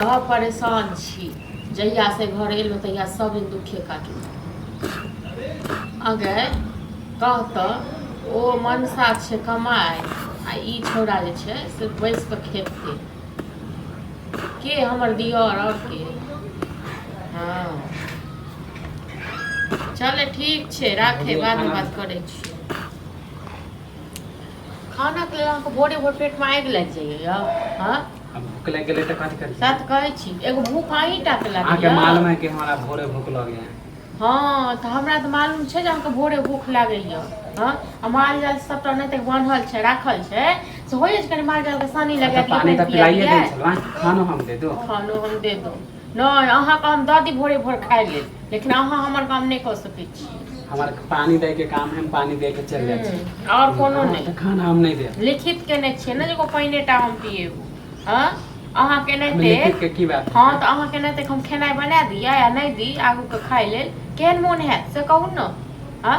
बड़ा परेशान छी जहिया से घर एलो तहिया सब दिन दुखे काटल अगर कहतऽ ओ मनसा छै कमाय आ ई छौड़ा जे छै से बैस कऽ खेतै के हमर दियर आओर के हँ चले ठीक छै राखे बादमे बात करै छी खाना के अहाँके भोरे भोर पेटमे आगि लागि जाइए हँ अब भूख लग गए तो कथी करी सच कहै छी एगो भूख अहीं टा के लागल अहाँके मालूम है कि हमारा भोरे भूख लगे है हँ तऽ हमरा तऽ मालूम छै जे अहाँके भोरे भूख लागैए हँ आ माल जाल सभटा नहि तक बान्हल छै राखल छै से होइए जे कनि माल जालके सानी लगा अच्छा, दियै पानी तो पानि पिया पिलाइए दियै दे छलवा खानो हम दे दो खानो हम दे दो नहि अहाँके हम दऽ दी भोरे भोर खाइ लेल लेकिन अहाँ हमर काम नहि कऽ सकै छी हमार पानी दे के काम है हम पानी दे के चल जाए छी हम्म, और कोनो अहाँ नहीं के खाना हम नहीं देब लिखित केने छियै ने जे एगो पानिए टा हम पिएब हँ अहाँ केने हम ते लिखित के की बात है? हँ तऽ अहाँ केने ते हम खेनाइ बना दियै आ नहि दी आगूके खाइ लेल केहन मोन हैत से कहू ने हँ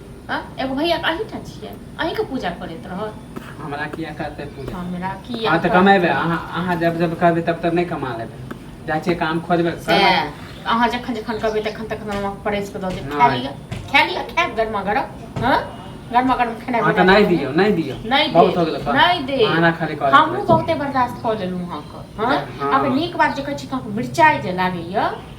हाँ? एगो भैया के अही ठाम छियै अही के पूजा करैत रहत हमरा किया करते पूजा हमरा की हाँ तो कमेबे अहाँ अहाँ जब जब करबे तब तब नहीं कमा लेबे जाइ छियै काम खोजबे से करबै। अहाँ जखन जखन कहबै तखन तखन हम अहाँके परैस कऽ दऽ देब खा नहि। लिअ खा लिअ खा गरमा गरम हाँ गरमा गरम खेनाइ अहाँ के बना नहीं देब। दियो नहीं दियो नहि दे बहुत हो गेलै कर। नहि दे अहाँ खाली कर हमहूँ बहुते बर्दाश्त कऽ लेलहुँ अहाँके हाँ? हँ। अहाँके नीक बात जे कहै छी कि अहाँके मिरचाइ जे लागैए